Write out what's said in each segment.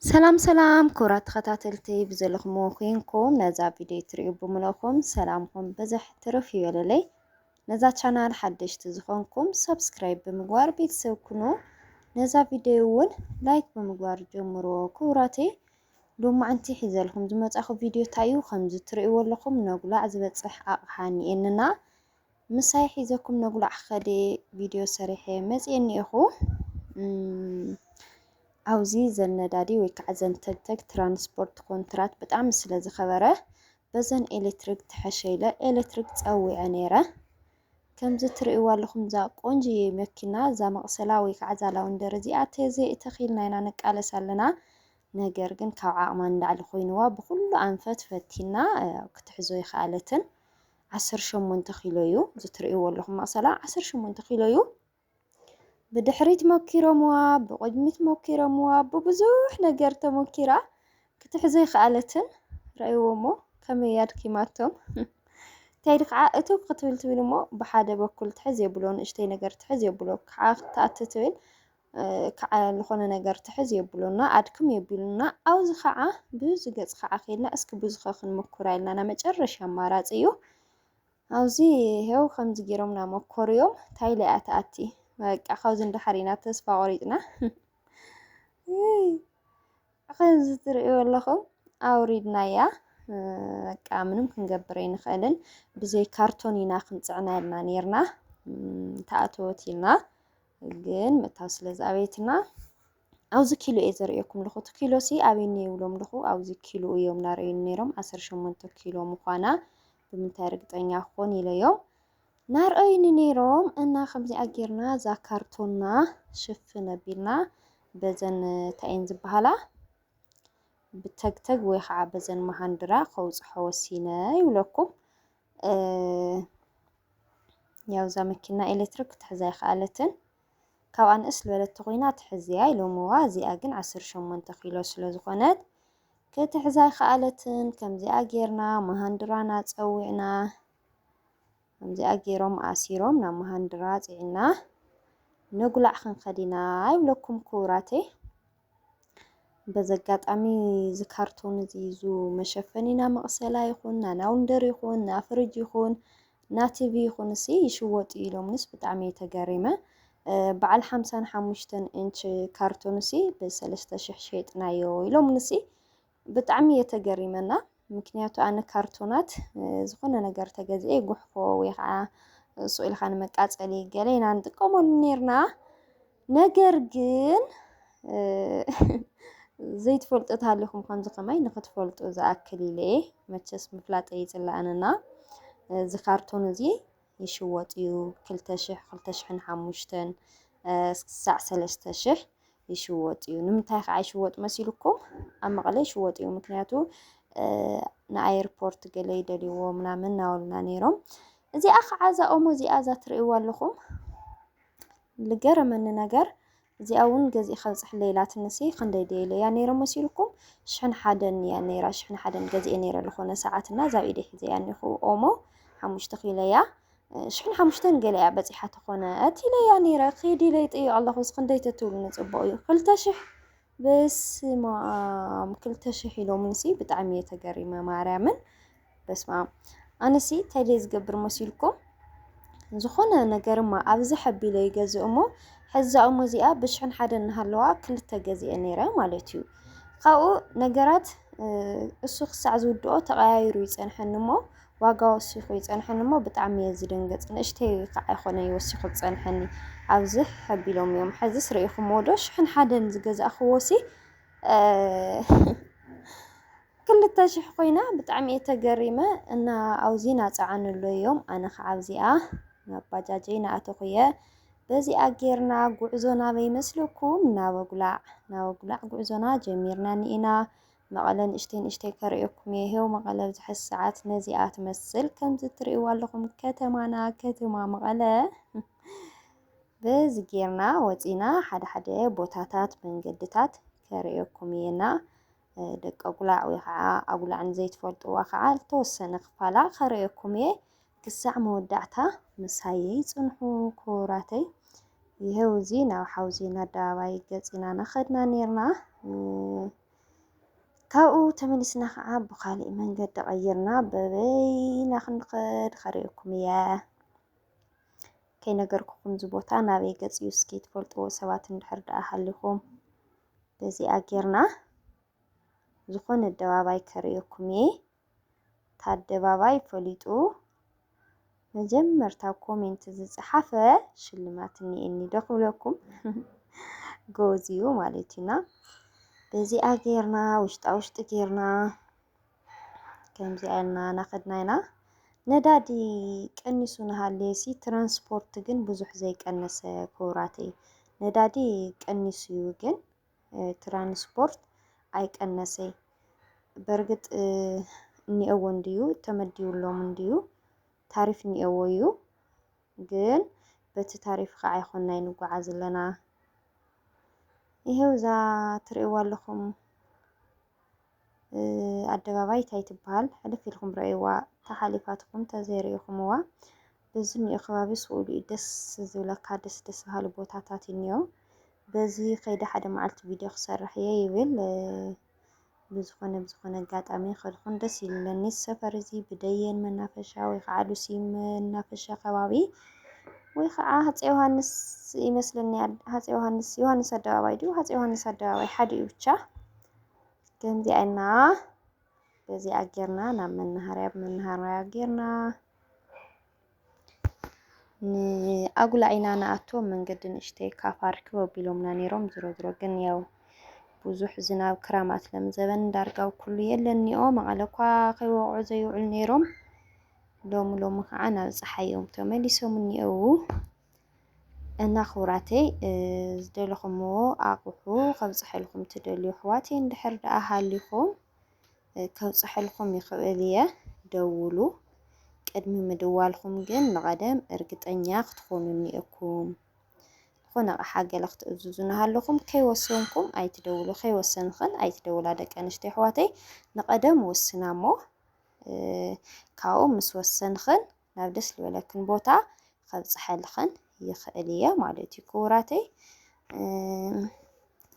ሰላም ሰላም ክቡራት ተኸታተልቲ ብዘለኹምዎ ኮይንኩም ነዛ ቪድዮ ትሪኡ ብምለኹም ሰላምኩም ብዝሕ ትርፍ ይበለለይ። ነዛ ቻናል ሓደሽቲ ዝኾንኩም ሰብስክራይብ ብምግባር ቤተሰብ ኩኑ። ነዛ ቪድዮ እውን ላይክ ብምግባር ጀምርዎ ክቡራተይ። ሎማዕንቲ ሒዘልኩም ዝመጻኹ ቪድዮ እንታይ እዩ? ከምዚ ትሪእዎ ኣለኹም ነጉላዕ ዝበጽሕ ኣቕሓ እኒኤንና ምሳይ ሒዘኩም ነጉላዕ ከዴ ቪድዮ ሰሪሐ መፅየ እኒኤኹ ኣብዚ ዘን ነዳዲ ወይ ከዓ ዘን ተግተግ ትራንስፖርት ኮንትራት ብጣዕሚ ስለ ዝኸበረ በዘን ኤሌክትሪክ ትሐሸ ኢለ ኤሌክትሪክ ፀዊዐ ነይረ ከምዚ ትርእይዎ ኣለኹም እዛ ቆንጅዬ መኪና እዛ መቕሰላ ወይ ከዓ እዛ ላውንደር እዚኣ ተዘይተኺልና ኢና ንቃለስ ኣለና። ነገር ግን ካብ ዓቕማ ንላዕሊ ኮይንዋ ብኩሉ ኣንፈት ፈቲና ክትሕዞ ይኸኣለትን ዓሰርተ ሸሞንተ ኪሎ እዩ እዚ እትርእይዎ ኣለኹም መቕሰላ ዓሰርተ ሸሞንተ ኪሎ እዩ። ብድሕሪት ሞኪሮምዋ፣ ብቕድሚት ሞኪሮምዋ፣ ብብዙሕ ነገር ተሞኪራ ክትሕዞ ኣይከኣለትን። ረኣይዎ እሞ ከመይ እያ ኣድኪማቶም። እንታይ ኢሉ ከዓ እቱግ ክትብል ትብል እሞ ብሓደ በኩል ትሕዝ የብሎ፣ ንእሽተይ ነገር ትሕዝ የብሎ፣ ከዓ ክትኣቱ ትብል ክዓ ልኾነ ነገር ትሕዝ የብሉና ኣድክም የብሉና ኣውዚ ኸዓ ብዙ ገፅ ኸዓ ኬልና እስኪ ብዙ ኸ ክንሙኩራ ኢልና ናይ መጨረሻ ኣማራፂ እዩ ኣውዚ ሄው ከምዚ ጌሮም ናመኮርዮም ታይለ እያ ትኣቲ በቃ ካብዚ እንዳሓር ኢና ተስፋ ቆሪፅና ከምዚ ትርእዩ ኣለኹም ኣውሪድናያ በቃ ምንም ክንገብር ኣይንኽእልን ብዘይ ካርቶን ኢና ክንፅዕና ኢልና ነርና ተኣተወት ኢልና ግን ምታው ስለ ዝኣበየትና ኣብዚ ኪሎ እየ ዘርእየኩም ኣለኹ እቲ ኪሎ ሲ ኣበይ እኒኦ ይብሎም ኣለኹ ኣብዚ ኪሎ እዮም እናረእዩኒ ነይሮም ዓሰርተ ሸሞንተ ኪሎ ምዃና ብምንታይ ርግጠኛ ክኾን ኢለዮም ናርአዩኒ ነይሮም እና ከምዚኣ ጌርና እዛ ካርቶና ሽፍን ኣቢልና በዘን እንታይ እየን ዝበሃላ ብተግተግ ወይ ከዓ በዘን መሃንድራ ከውፅሖ ወሲነ ይብለኩም ያው እዛ መኪና ኤሌክትሪክ ክትሕዛ ይኸኣለትን ካብኣ ንእስ ዝበለት ተኾይና ትሕዝያ ኢሎምዋ እዚኣ ግን 18 ኪሎ ስለ ዝኾነት ክትሕዛ ይኸኣለትን ከምዚኣ ጌርና መሃንድራና ፀዊዕና ከምዚኣ ጌሮም ኣሲሮም ናብ መሃንድራ ፅዒና ንጉላዕ ክንኸዲና ይብለኩም ክቡራተይ በዚ ኣጋጣሚ እዚ ካርቶን እዚ እዙ መሸፈኒ ና መቕሰላ ይኹን ና ናውንደር ይኹን ና ፍርጅ ይኹን ና ቲቪ ይኹን እሲ ይሽወጡ ኢሎምንስ ብጣዕሚ ተገሪመ በዓል ሓምሳን ሓሙሽተን እንች ካርቶን እሲ ብሰለስተ ሽሕ ሸጥናዮ ኢሎምንሲ ብጣዕሚ እየ ተገሪመ እና ምክንያቱ ኣነ ካርቶናት ዝኾነ ነገር ተገዚኤ ጉሕፎ ወይ ከዓ ስኢልካ ንመቃፀሊ ገለ ኢና ንጥቀመሉ ነርና ነገር ግን ዘይትፈልጡ ተሃሊኹም ከምዚ ከማይ ንክትፈልጡ ዝኣክል ኢለ መቸስ ምፍላጠይ ይፅላእንና እዚ ካርቶን እዚ ይሽወጥ እዩ ክልተ ሽሕ ክልተ ሽሕን ሓሙሽተን ክሳዕ ሰለስተ ሽሕ ይሽወጥ እዩ። ንምንታይ ከዓ ይሽወጥ መሲልኩም? ኣብ መቐለ ይሽወጥ እዩ። ምክንያቱ ንኣየርፖርት ገለ ይደልይዎ ምናምን እናበሉና ነይሮም። እዚኣ ከዓ እዛ ኦሞ እዚኣ እዛ ትርእይዋ ኣለኹም ዝገረመኒ ነገር እዚኣ እውን ገዚእካ ኣብፀሐለይ ኢላትኒሲ ክንደይ ድየ ኢለያ ነይረ መሲልኩም ሽሕን ሓደን እያ ነይራ ሽሕን ሓደን ገዚኤ ነይረ ዝኾነ ሰዓት እና እዛ ኢደይ ሒዘያ እኒኹ ኦሞ ሓሙሽተ ኪለያ ሽሕን ሓሙሽተን ገለ እያ በፂሓ ተኾነ እቲ ኢለያ ነይረ ኺድ ኢለ ይጥይቕ ኣለኹ እዚ ክንደይ ተትብሉኒ ፅቡቕ እዩ ክልተ ሽሕ በስመ ኣብ ክልተ ሽሕ ኢሎምኒሲ ብጣዕሚ እየ ተገሪመ ማርያምን በስመኣም ኣነሲ እንታይ ድየ ዝገብር መሲልኩም ዝኾነ ነገርማ ኣብዚ ሐቢለ ይገዝእ እሞ ሕዛ እሞ እዚኣ ብሽሕን ሓደ እናሃለዋ ክልተ ገዚአ ነይረ ማለት እዩ። ካብኡ ነገራት እሱ ክሳዕ ዝውድኦ ተቐያይሩ ይፀንሐኒ እሞ ዋጋ ወሲኹ ይፀንሐኒ እሞ ብጣዕሚ እየ ዝድንገፅ። ንእሽተይ ከዓ ይኾነ ይወሲኹ ዝፀንሐኒ ኣብዚ ሐቢሎም እዮም። ሕዝስ ርኢኹምዎ ዶ ሽሕን ሓደን ዝገዛእኽዎሲ ክልተ ሽሕ ኮይና ብጣዕሚ እየ ተገሪመ እና ኣውዚ ናፀዓንሎ እዮም ኣነ ከዓ ኣብዚኣ ናብ ባጃጀይ ናኣተኹ እየ በዚኣ ጌርና ጉዕዞ ናበይ መስለኩም ናበጉላዕ ናበጉላዕ ጉዕዞና ጀሚርና ኒኢና መቐለ ንእሽተይ ንእሽተይ ከርእየኩም እየ ሄው መቐለ ብዝሐስ ሰዓት ነዚኣ ትመስል ከምዚ ትርእይዋ ኣለኹም ከተማና ከተማ መቐለ በዚ ጌርና ወፂና ሓደ ሓደ ቦታታት መንገድታት ከርእየኩም እየና ደቂ ኣጉላዕ ወይ ኸዓ ኣጉላዕ ንዘይትፈልጥዋ ኸዓ ዝተወሰነ ክፋላ ከርእየኩም እየ ክሳዕ መወዳዕታ ምሳየይ ፅንሑ ክቡራተይ ይሄው እዚ ናብ ሓውዜን ኣደባባይ ገፂና ናኸድና ነርና ካብኡ ተመሊስና ከዓ ብካሊእ መንገዲ ቀይርና በበይና ክንኸድ ከርእየኩም እየ ከይነገርኩኹም እዚ ቦታ ናበይ ገፅ እዩ እስኪ ትፈልጥዎ ሰባት እንድሕር ደኣ ሃሊኹም በዚኣ ጌርና ዝኾነ ኣደባባይ ከርእየኩም እየ እታ ኣደባባይ ፈሊጡ መጀመርታ ኮሜንት ዝፀሓፈ ሽልማት እኒኤኒ ዶ ክብለኩም ጎዝ እዩ ማለት እዩና በዚኣ ጌርና ውሽጣ ውሽጢ ጌርና ከምዚ ኣልና ናኸድና ኢና ነዳዲ ቀኒሱ ንሃልየሲ ትራንስፖርት ግን ብዙሕ ዘይቀነሰ ክቡራተይ ነዳዲ ቀኒሱ እዩ ግን ትራንስፖርት ኣይቀነሰይ በርግጥ እኒኦዎ እንድዩ ተመዲብሎም እንድዩ ታሪፍ እኒኦዎ እዩ ግን በቲ ታሪፍ ከዓ ይኮና ይንጓዓዝ ኣለና ይሄው እዛ ትርእይዋ ኣለኹም ኣደባባይ ታይ ትበሃል ሕልፍ ኢልኩም ረኣይዋ ተሓሊፋትኩም ተዘይሪኢኹምዋ በዚ እኒኦ ከባቢ ስኡሉ እዩ ደስ ዝብለካ ደስ ደስ በሃሊ ቦታታት እኒኦ በዚ ከይደ ሓደ መዓልቲ ቪድዮ ክሰርሕ እየ ይብል ብዝኾነ ብዝኾነ ኣጋጣሚ ከድኹን ደስ ይብለኒ ሰፈር እዚ ብደየን መናፈሻ ወይ ከዓ ሉሲ መናፈሻ ከባቢ ወይ ከዓ ሃፀ ዮሃንስ ይመስለኒ ሃፀ ዮሃንስ ዮሃንስ ኣደባባይ ድዩ ሃፀ ዮሃንስ ኣደባባይ ሓደ እዩ ብቻ ከምዚኣ ኢልና በዚኣ ጌርና ናብ መናሃርያ ብመናሃርያ ጌርና ንኣጉላ ኢና ንኣቶ መንገዲ ንእሽተይ ካፍ ኣርክብ ኣቢሎምና ነይሮም ዝሮ ዝሮ ግን ያው ብዙሕ ዝናብ ክራማት ለምዘበን ዳርጋው ኩሉ የለኒኦ መቐለ እኳ ከይወቕዑ ዘይውዕሉ ነይሮም ሎሚ ሎሚ ከዓ ናብ ፀሓይ እዮም ተመሊሶም እኒአው እና ክቡራተይ ዝደለኹምዎ ኣቑሑ ከብፅሐልኩም ትደልዩ ኣሕዋት እንድሕር ደኣ ሃሊኹም ከብፅሐልኩም ይኽእል እየ ደውሉ። ቅድሚ ምድዋልኩም ግን ንቐደም እርግጠኛ ክትኾኑኒ እኩም። ዝኾነ ኣቕሓ ገለ ክትእዝዙ እናሃለኹም ከይወሰንኩም ኣይትደውሉ፣ ከይወሰንኽን ኣይትደውላ ደቂ ኣንስትዮ ኣሕዋተይ። ንቐደም ወስና እሞ ካብኡ ምስ ወሰንኽን ናብ ደስ ዝበለክን ቦታ ከብፅሐልኽን ይኽእል እየ ማለት እዩ ክቡራተይ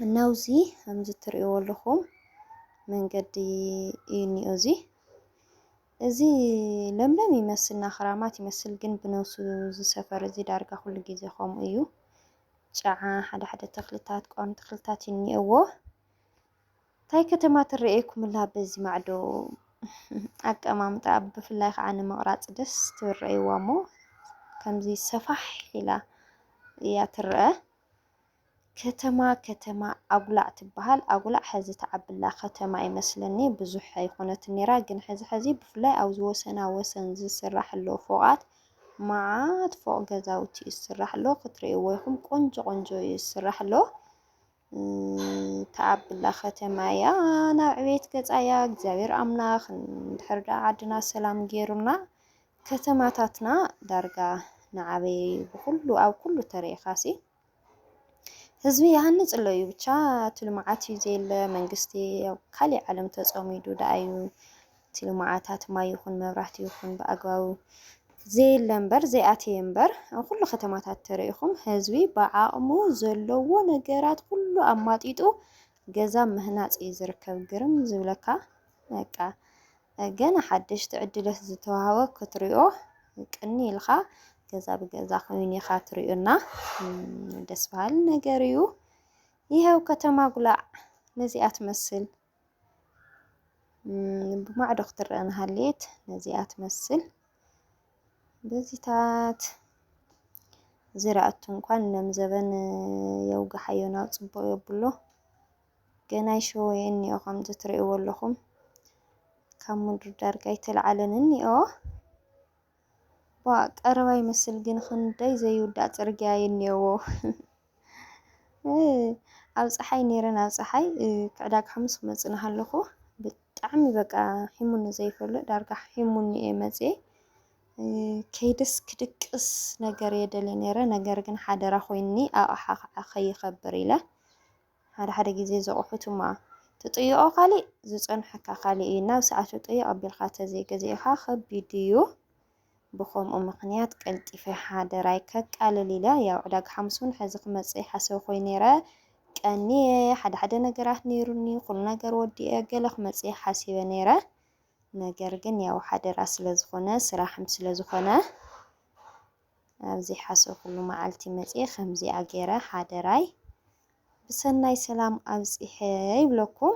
እና ውዚ ከምዚ ትርእይዎ ኣለኹም መንገዲ እዩ እኒኦ እዚ እዚ ለምለም ይመስልና ክራማት ይመስል ግን ብነብሱ እዚ ሰፈር እዚ ዳርጋ ኩሉ ግዜ ከምኡ እዩ ጨዓ ሓደ ሓደ ተኽልታት ቋሚ ተኽልታት ይኒኦዎ ታይ ከተማ ትረኤኩምላ በዚ ማዕዶ ኣቀማምጣኣ ብፍላይ ከዓ ንምቕራፅ ደስ ትብል ረእይዋ እሞ ከምዚ ሰፋሕ ኢላ እያ ትረአ። ከተማ ከተማ ኣጉላዕ ትበሃል። ኣጉላዕ ሐዚ ተዓብላ ከተማ ይመስለኒ ብዙሕ ኣይኮነትን ነይራ፣ ግን ሐዚ ሐዚ ብፍላይ ኣብዚ ወሰና ወሰን ዝስራሕ ኣሎ ፎቓት መዓት ፎቕ ገዛውቲ እዩ ዝስራሕ ኣሎ፣ ክትርእይዎ ኢኹም ቆንጆ ቆንጆ እዩ ዝስራሕ ኣሎ። ተኣብላ ከተማ እያ ናብ ዕቤት ገፃ እያ እግዚኣብሔር ኣምላኽ እንድሕር ደኣ ዓድና ሰላም ገይሩልና ከተማታትና ዳርጋ ንዓበየ እዩ ብኩሉ ኣብ ኩሉ ተሪኢኻሲ ህዝቢ ይሃንፅ ኣሎ እዩ ብቻ እቲ ልምዓት እዩ ዘየለ መንግስቲ ኣብ ካሊእ ዓለም ተፀሚዱ ደኣ እዩ እቲ ልምዓታት ማይ ይኹን መብራህቲ ይኹን ብኣግባቡ ዘየለ እምበር ዘይኣተየ እምበር ኣብ ኩሉ ከተማታት ተረኢኹም ህዝቢ ብዓቕሙ ዘለዎ ነገራት ኩሉ ኣማጢጡ ገዛ ምህናፅ እዩ ዝርከብ ግርም ዝብለካ በቃ ገና ሓደሽቲ ዕድለት ዝተዋህበ ክትሪኦ ቅኒ ኢልኻ ገዛ ብገዛ ኮይኑ ኢኻ ትሪኡና ደስ በሃሊ ነገር እዩ ይኸው ከተማ ጉላዕ ነዚኣ ትመስል ብማዕዶ ክትረአ ንሃልየት ነዚኣ ትመስል በዚታት ዝራእቱ እንኳን እነም ዘበን የውግሓዮ ናብ ፅቡቅ የብሎ ገና ይሸወየ እኒኦ ከምዚ ትርእይዎ ኣለኹም ካብ ምድሪ ዳርጋ ኣይተለዓለን እኒኦ ዋ ቀረባ ይመስል ግን ክንደይ ዘይውዳእ ፅርግያ የኒኦዎ ኣብ ፀሓይ ነይረ ናብ ፀሓይ ክዕዳግ ሓሙስ ክመፅእ ናሃለኹ ብጣዕሚ በቃ ሒሙኒ ዘይፈልጥ ዳርጋ ሒሙኒ እየ መፅየ ከይደስ ክድቅስ ነገር እየ ደልየ ነይረ ነገር ግን ሓደራ ኮይኒ ኣቕሓ ከዓ ከይኸብር ኢለ ሓደ ሓደ ግዜ ዘቑሑት እማ ትጥይቖ ካሊእ ዝፀንሐካ ካሊእ እዩ ናብ ሰዓቱ ጠይቕ ኣቢልካ ተዘይገዚእኻ ከቢድ እዩ ብኸምኡ ምኽንያት ቀልጢፈ ሓደራይ ከቃልል ኢለ ያው ዕዳጋ ሓሙስ ውን ሐዚ ክመፅእ ይሓሰብ ኮይኑ ነይረ ቀንየ ሓደ ሓደ ነገራት ነይሩኒ ኩሉ ነገር ወዲኤ ገለ ክመፅእ ሓሲበ ነይረ ነገር ግን ያው ሓደራ ስለ ዝኾነ ስራሕም ስለ ዝኾነ ኣብ ዘይሓሰብኩሉ መዓልቲ መፅየ ከምዚኣ ገይረ ሓደራይ ብሰናይ ሰላም ኣብፅሐ ይብለኩም።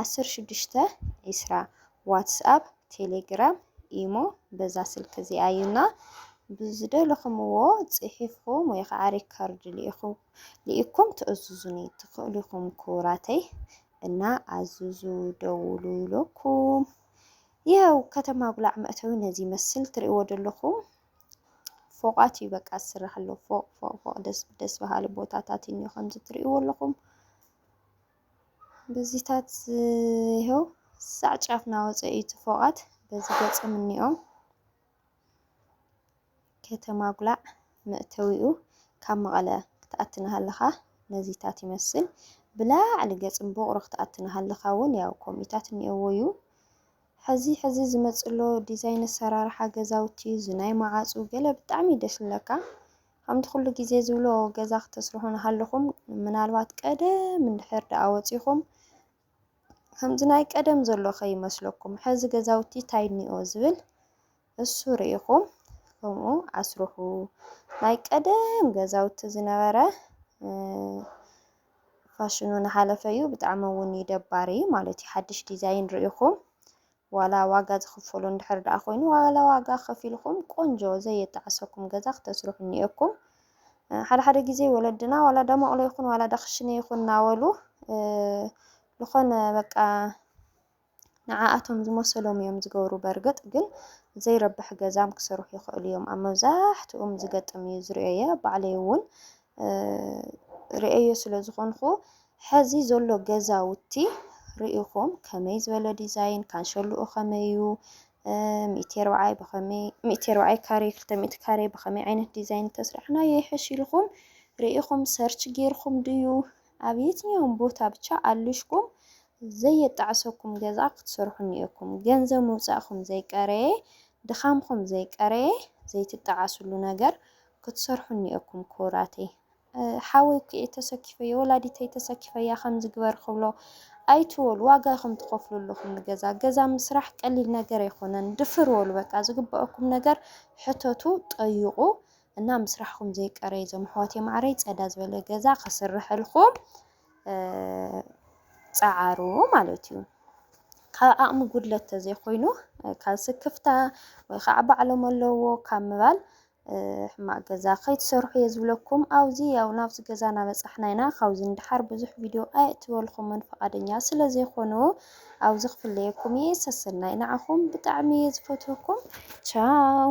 ዓሰርተ ሽዱሽተ ዒስራ ዋትስኣፕ ቴሌግራም ኢሞ በዛ ስልኪ እዚኣ እዩ እና ብዝደለኹምዎ ፅሒፍኹም ወይ ከዓ ሪከርድ ልኢኩም ትእዝዙኒ ትኽእሉ ኢኹም ክቡራተይ እና ኣዝዙ ደውሉ ይለኩም ይኸው ከተማ ጉላዕ መእተዊ ነዚ ይመስል ትሪእዎ ዘለኹም ፎቓት እዩ በቃ ዝስራሕ ኣሎ ፎቕ ፎቕ ፎቕ ደስ በሃሊ ቦታታት እኒ ከምዚ ትሪእዎ ኣለኹም በዚታት ይሀው ሳዕ ጫፍ ናወፀ እዩ እቲ ፎቓት በዚ ገፅም እኒኦም ከተማ ጉላዕ መእተዊኡ ካብ መቐለ ክትኣቲ ናሃለኻ ነዚታት ይመስል ብላዕሊ ገፅም ቦቕሮ ክትኣቲ ናሃለኻ እውን ያው ከምኡታት እኒኦዎ እዩ ሕዚ ሕዚ ዝመፅሎ ዲዛይን ኣሰራርሓ ገዛውቲ ዝናይ መዓፁ ገለ ብጣዕሚ ደስ ዝብለካ ከምቲ ኩሉ ግዜ ዝብሎ ገዛ ክተስርሑ እናሃለኹም ምናልባት ቀደም እንድሕር ደኣ ወጺኹም ከምዚ ናይ ቀደም ዘሎ ከይመስለኩም ሕዚ ገዛውቲ ታይ እኒኦ ዝብል እሱ ርኢኹም ከምኡ ኣስርሑ ናይ ቀደም ገዛውቲ ዝነበረ ፋሽኑ እናሓለፈ እዩ ብጣዕሚ እውን እዩ ደባሪ ማለት እዩ ሓድሽ ዲዛይን ርኢኹም ዋላ ዋጋ ዝኽፈሎ እንድሕር ደኣ ኮይኑ ዋላ ዋጋ ከፊልኹም ቆንጆ ዘየጣዕሰኩም ገዛ ክተስርሑ እኒኤኩም። ሓደ ሓደ ግዜ ወለድና ዋላ ደመቕሎ ይኹን ዋላ ዳኽሽነ ይኹን እናበሉ ዝኾነ በቃ ንዓኣቶም ዝመሰሎም እዮም ዝገብሩ። በርግጥ ግን ዘይረብሕ ገዛም ክሰርሑ ይኽእሉ እዮም ኣብ መብዛሕትኡም ዝገጥም እዩ ዝርኦየ ባዕለይ እውን ሪኤዮ ስለ ዝኾንኹ ሐዚ ዘሎ ገዛውቲ ሪኢኹም ከመይ ዝበለ ዲዛይን ካንሸሉኡ ከመይ እዩ ሚእቲ ኣርብዓይ ብኸመይ ሚእቲ ኣርብዓይ ካሬ ክልተ ሚእቲ ካሬ ብኸመይ ዓይነት ዲዛይን ተስራሕናዮ ይሕሽ ኢልኹም ሪኢኹም ሰርች ጌርኹም ድዩ ኣብ የትኛውን ቦታ ብቻ ኣልሽኩም ዘየጣዕሰኩም ገዛ ክትሰርሑ እኒኤኩም ገንዘብ ምውፃእኹም ዘይቀረየ ድኻምኹም ዘይቀረየ ዘይትጣዓስሉ ነገር ክትሰርሑ እኒኤኩም ክቡራተይ። ሓወይ ኲዒ ተሰኪፈዮ ወላዲተይ ተሰኪፈያ ከምዚ ግበሪ ክብሎ ኣይትበሉ ዋጋ ኢኹም ትኸፍሉ ኣለኹም ንገዛ ገዛ ምስራሕ ቀሊል ነገር ኣይኮነን ድፍር በሉ በቃ ዝግበኣኩም ነገር ሕተቱ ጠይቑ እና ምስራሕኹም ዘይቀረይ እዞም ኣሕዋተይ ማዕረይ ፀዳ ዝበለ ገዛ ክስርሐልኩም ፀዓሩ ማለት እዩ ካብ ዓቕሚ ጉድለት ተዘይኮይኑ ካብ ስክፍታ ወይ ከዓ ባዕሎም ኣለዎ ካብ ምባል ሕማቅ ገዛ ከይትሰርሑ እየ ዝብለኩም ኣውዚ ያው ናብዚ ገዛ ናበጻሕና ኢና ካብዚ ንደሓር ብዙሕ ቪድዮ ኣየእትወልኩምን ፍቃደኛ ስለ ዘይኮኑ ኣብዚ ክፍለየኩም እየ ሰሰናይ ንዓኹም ብጣዕሚ እየ ዝፈትወኩም ቻው